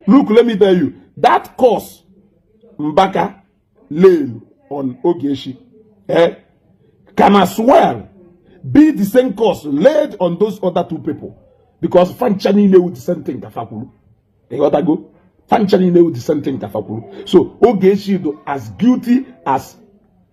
look let me tell you that course mbaka lane on ogeshi eh, can as well be the same course laid on those other two people because fancha niile wu the same thing kafa kwuru ịghọtago fancha niile wu the same thing kafa kwuru so ogeshi do as guilty as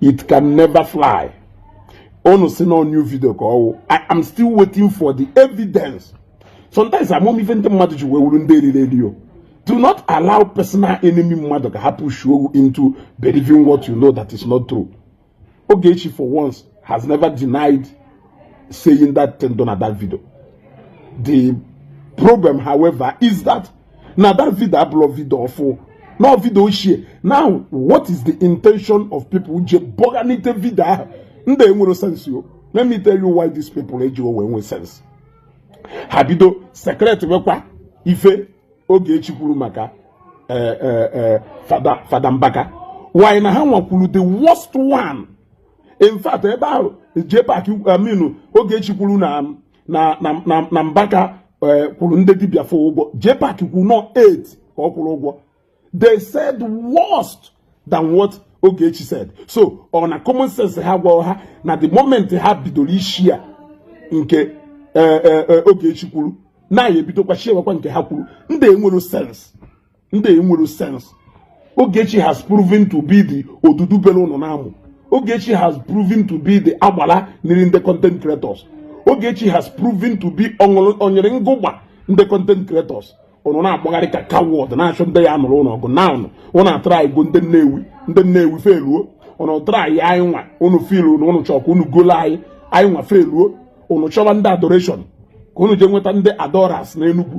it can never fly unu si na new video ka ọwụ i am still waiting for the evidence sometimes ama m ife ndị mmadụ ji wee wuru ndị eriri eri o do not allow personal enemy mmadụ ka ha push you into believing what you know that is not true Ogechi for once has never denied saying that thing dọ na that video. The problem, however, is that na that video abụrọ video ọfụ na video ochie now what is the intention of people je bọganite video ahụ ndị enwerọ sense yo let me tell you why these people ejirọ wee nwe sense ha bido circulatewekwa ife Ogechi kwuru maka eh, eh, eh, Fada Fada Mbaka why na ha nwa kwuru the worst one in fact ebe ahụ JPAC I mean Ogechi kwuru na na na na na Mbaka eh, kwụrụ ndị dibia 4 ụgwọ JPAC kwuru na ọ 8 ka ọ kwụrụ ụgwọ they said worse than what Ogechi said so ọ na common sense agwa ha na the moment ha bidoro ishare nke eh, eh, Ogechi kwuru na ya ebidokwa sharewakwa nke ha kwuru ndị enwerọ sense ndị enwerọ sense Ogechi has proven to be the odudu bere ụnụ n'amụ Ogechi has proven to be the agbala na-eri ndị content creators Ogechi has proven to be onyere ngụgba ndị content creators ụnụ na-agbagharị ka coward na-achọ ndị ya-anụrụ ụnụ ọgụ now ụnụ ụnụ atrygo ndị Nnewi ndị Nnewi failuo ụnụ try anyị anyị nwa ụnụ fail ụnụ ụnụ chọ ka ụnụ golo anyị anyị nwa failuo ụnụ chọba ndị adoration ka ụnụ jee nweta ndị adorers na Enugu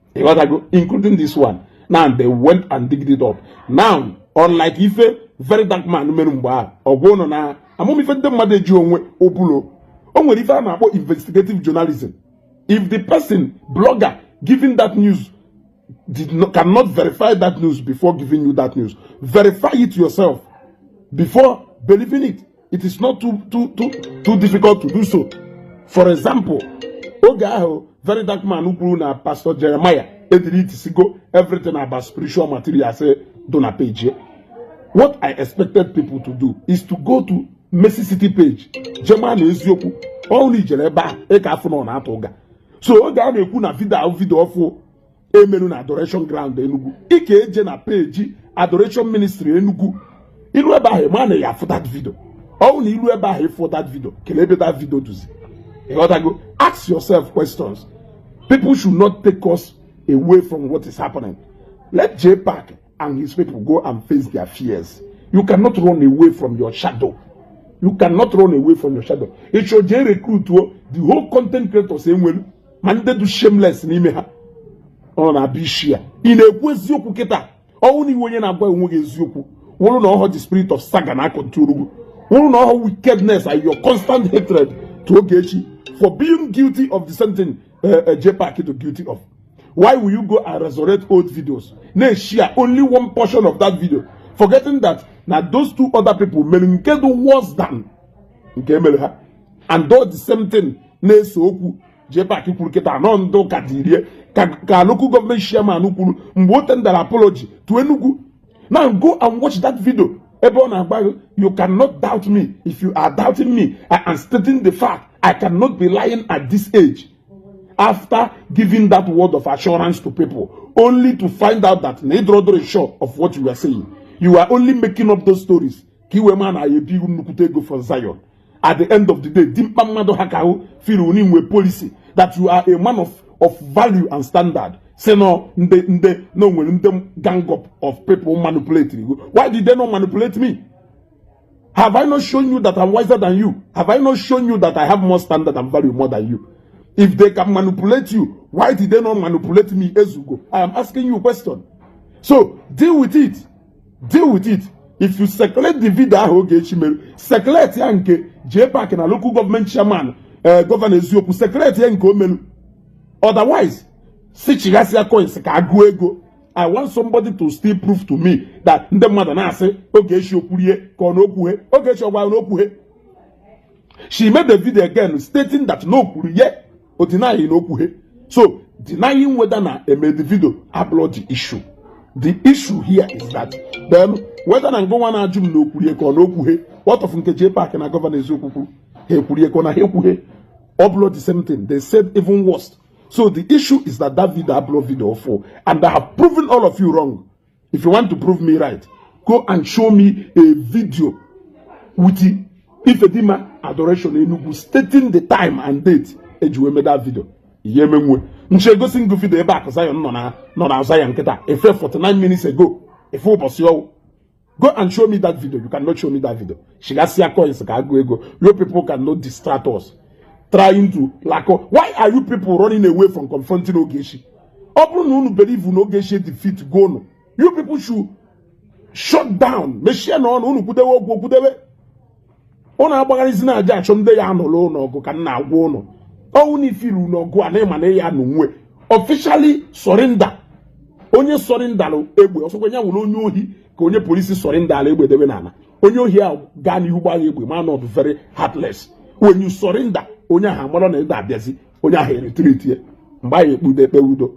ịghọtago including this one now they went and digged it up now unlike ife very dark man mere mgbe ahụ agwa ụnụ na ama m ife ndị mmadụ ejirọ nwe ụbụlụ o nwere ife a na-akpọ investigative journalism if the person blogger giving that news did not, cannot verify that news before giving you that news verify it yourself before believing it it is not too, too, too, too difficult to do so for example oge ahụ very dark man kwuru na Pastor Jeremiah edeletisigo everything about spiritual materials eh, dọ na page eh. what i expected people to do is to go to Mercy City page je ma na eziokwu ọwụ na i jere ebe ahụ ị ka afụ na ọ na-atụ ụgha so oge a na-ekwu na video video ọfụ emelu na adoration ground Enugu ị ka eje na page adoration ministry Enugu ilu ebe ahụ ma na ị ya-afụ that video ọwụ na ilu ebe ahụ ịfụ that video kelee ebe that video dọzi ịghọtago ask yourself questions people should not take us away from what is happening let JPAC and his people go and face their fears you cannot run away from your shadow you cannot run away from your shadow ịchọ jee recruit the whole content creators enwelu ma ndị dị shameless n'ime ha ọ na-abịa isi ya ị na-ekwu eziokwu kịta ọ wụ na ị wụ onye na-agwa onwe gị eziokwu wụrụ na ọhọ the spirit of saga na-acontrol gụ wụrụ na ọhọ wickedness and your constant hatred to Ogechi for being guilty of the same thing uh, eh, uh, eh, JPAC is guilty of why will you go and resurrect old videos na-eshare only one portion of that video forgetting that na those two other people mere nke dị worse than nke emere ha and do the same thing na-ese okwu JPAC kwuru kịta anọ ndị ụka dirie ka local government chairman kwuru mgbe o tender apology to Enugu na go and watch that video ebe ọ na-agba you cannot doubt me if you are doubting me I am stating the fact I cannot be lying at this age after giving that word of assurance to people only to find out that na ị dịrọdọ sure of what you are saying you are only making up those stories ka i wee ma na-ebi nnukwute ego for Zion at the end of the day dimkpa mmadụ ha ka ahụ firi unu inwe policy that you are a man of of value and standard si na ndị ndị na onwere ndị gang up of people manipulate you why did they not manipulate me have i not shown you that i'm wiser than you have i not shown you that i have more standard and value more than you if they can manipulate you why did they not manipulate me ezugo i am asking you a question so deal with it deal with it if you circulate the video ahụ Ogechi mere circulate ya nke JPAC na local government chairman eh, Governor Eziokwu circulate ya nke o melu otherwise si chịghasịa coins ka a gụọ ego i want somebody to still prove to me that ndị mmadụ na-asị Ogechi o kwuru ye ka ọ na o kwughe Ogechi ọ gwa na o kwughe she made the video again stating that na o kwuru ye or denying na o kwuhe so denying whether na e made the video abụrọ the issue the issue here is that then whether na ngụnwa na-ajụ m na o kwuru ye ka ọ na o kwuhe what of nke JPAC na Governor Eziokwu kwuru ha kwuru ye ka ọ na ha ekwuhe ọ bụrọ the same thing they said even worse so the issue is that that video abụrọ video ọfụ and I have proven all of you wrong if you want to prove me right go and show me a video with Ifedima adoration Enugu stating the time and date e ji wee made that video ihe emenwe nche egosi ngụ video ebe akụ Zion nọ na nọ na Zion kịta efe 49 minutes ago efe ụbọchị ọ wụ go and show me that video you cannot show me that video chịghasịa coins ka a gụọ ego you people cannot distract us trying to like why are you people running away from confronting Ogechi ọ bụrụ na unu believe na Ogechi edefeatgo unu you people should shut down mechienụ ọnụ unu kwudewe okwu kwudewe unu agbagharịzina a ja-achọ ndị ya-anụrụ unu ọgụ ka m na-agwa unu ọ wụ na ị fụrụ na ọgụ a na ị ma na ya nwe officially surrender onye surrenderlụ egbe ọ sọkwa ya wụrụ onye ohi ka onye police surrenderlụ egbe debe n'ala onye ohi ahụ gaa n'ihu gbaa ya egbe ma na ọ dị very heartless when you surrender onye ahụ amarọ na ị ga-abịazi onye ahụ eretreatie mgbe a ya-ekpe udo ekpe udo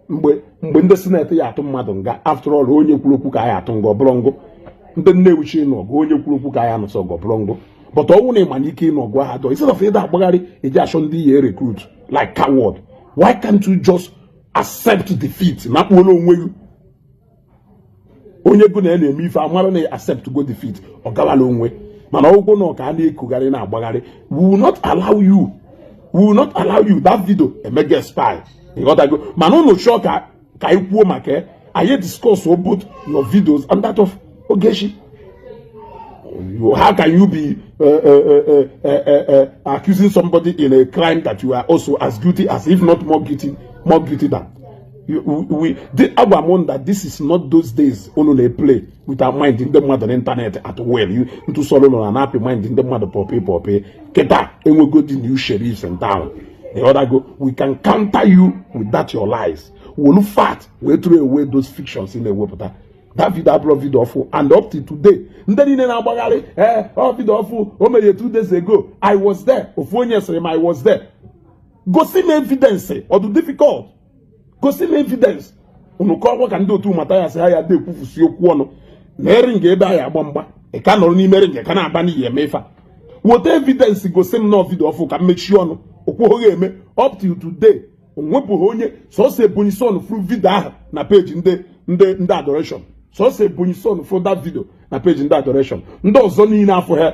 mgbe mgbe ndị senate ya-atụ mmadụ nga after all onye kwuru okwu ka a ya-atụ nga ọ bụrọ ngụ ndị Nnewi chi ịnụ ọgụ onye kwuru okwu ka a ya-anụso ọgụ ọ bụrọ ngụ but ọ wụ na ị ma na ike ịnụ ọgụ ahadọ instead of ị da-agbagharị ị ja-achọ ndị ị ye recruit like coward why can't you just accept defeat na kpuola onwe gị onye gị na ya na-eme ife amara na accept go defeat ọ gawala onwe mana ọ wụrụ na ọ ka na-ekwugharị na-agbagharị we will not allow you we will not allow you that video emeghị expire ịghọtago mana ụnụ chọọ ka ka anyị kwuo maka ya anyị discuss both your videos and that of Ogechi how can you be uh, uh, uh, uh, accusing somebody in a crime that you are also as guilty as if not more guilty more guilty than agwa m that this is not those days unu na-eplay with our mind ndị mmadụ n'ịntanetị at will ntụsọrọ ụlọ na na-apị mind ndị mmadụ pọpị pọpị kịta e nwego ndị new sheriffs in town ịghọtago we can counter you with that your lies welu fact wee throw away those fictions ị na-ewepụta that video abụrọ video ọfụ and up to today ndị niile na-agbagharị ee eh, ọ oh, video ọfụ o mere two days ago i was there ofu onye sịrị m i was there gosi m evidence ọ dị difficult gosi m evidence unu ka ọkwa ka ndị otu Matthias ha ya dekwufusi okwu ọnụ na ring ebe anyị agba mgba ị ka nọrọ n'ime ring ka na-aba n'iyi eme ife weta evidence gosi m na vidio ọfụ ka m mechie ọnụ o kweghị eme up till today o nwebeghị onye sọsọ Ebonyi son fụrụ vidio ahụ na peji ndị ndị ndị adoration sọsọ Ebonyi son fụrụ that vidio na peji ndị adoration ndị ọzọ niile afụghị ya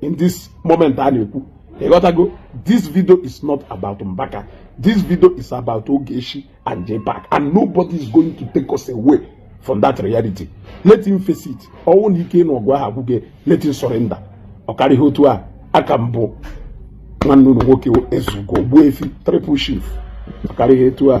in this moment a na-ekwu ịghọtago this video is not about Mbaka this video is about Ogechi and Jpac and nobody is going to take us away from that reality let him face it ọ wụ na ike na ọgụ ahụ agwụgo ya let him surrender ọ karịghị otu a aka m bụ nwanne unu nwoke Ezeugo Ogbuefi triple chief ọ karịghị etu a